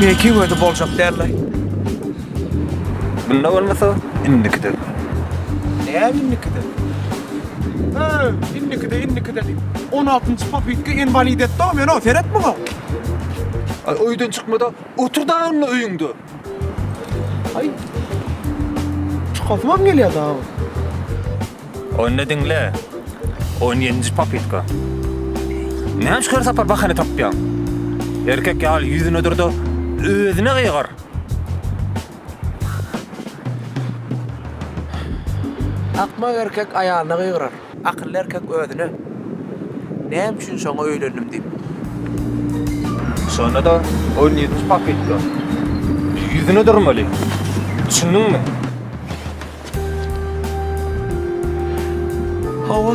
Meň iki gözüm boljak däldi. Bunda bolmasa indikide. Näme indikide? He, indikide, indikide diýip. 16-njy popytka inwalid etdi-ow meni-ow, seret muňa. Aý öýden çykmada otur da onda öýüňde. Ay. Çykasy bam gelýär daha. Onda dinle. 17-nji popitka. Näme şu her sapar bahana tapýaň? Erkek ýaly ýüzüne durda, özüne gygyr. Akmak erkek aýalyna gygyrar. Akylly erkek özüne, Näme üçin şoňa öýlendim diýip. Şonda-da ol ýedi pakytla ýüzüne durmaly. Düşündiňmi? Hawa.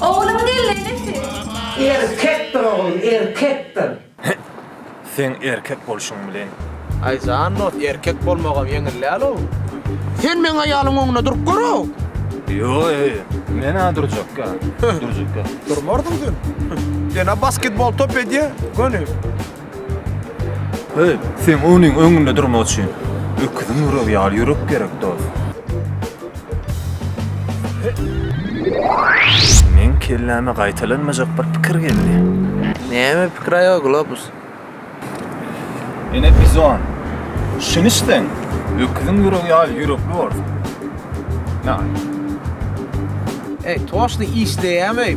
Ogluň geldi enesi. Erkekdir oglum erkekdir. Heh seň erkek bolşuň bilen. Aý jan dost erkek bolmagam ýeňil dälow. Sen meň aýalyň oňuna durup görow. Ýogy menä durjakka durjakka. Durmardyň sen. Sena basketbol top edýä göni. Heý, seň onuň öňünde durmak üçin öküziň ýüregi ýaly ýürek gerek, dost. Meň kelläme gaýtalanmajak bir pikir geldi. Näme pikir aýol Globus? Ene bizon, şuny içseň, öküziň ýüregi ýaly ýürekli bolarsyň. Näme? Heý, toşly işleýämi?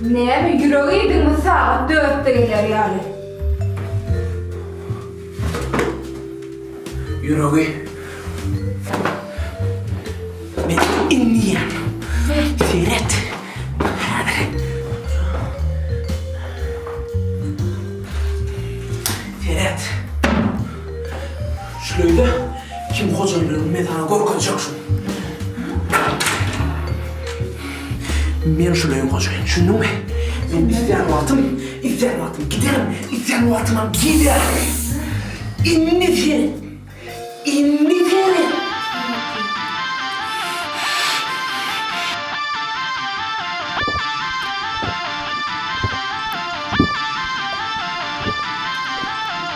Näme ýürek iýdiňmi sagat dörtde geler ýaly. Ýüregi Men indi ýen. Seret. Seret. Şuleýle, kim hojalygyny men saňa görkezjek şul. Men şul öýüň hojaýyny, düşündiňmi? Men islän wagtym, islän wagtym giderin, islän wagtymam gelerin. Indi seret! Indi seret!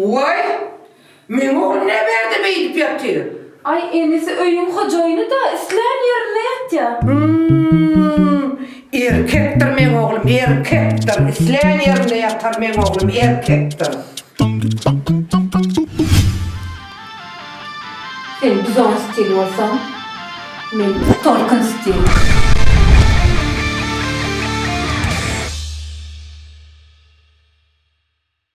Waý, meňe ol ne berdi beýdip ýatyr. Aý inisi öýüň hojaýyny-da islän ýerinde ýatýa. Hum, erkekdir meň oglum, erkekdir, islän ýerinde ýatar meň oglum, erkekdir. Sen Buzan stil bolsaň, men Tolkun stil.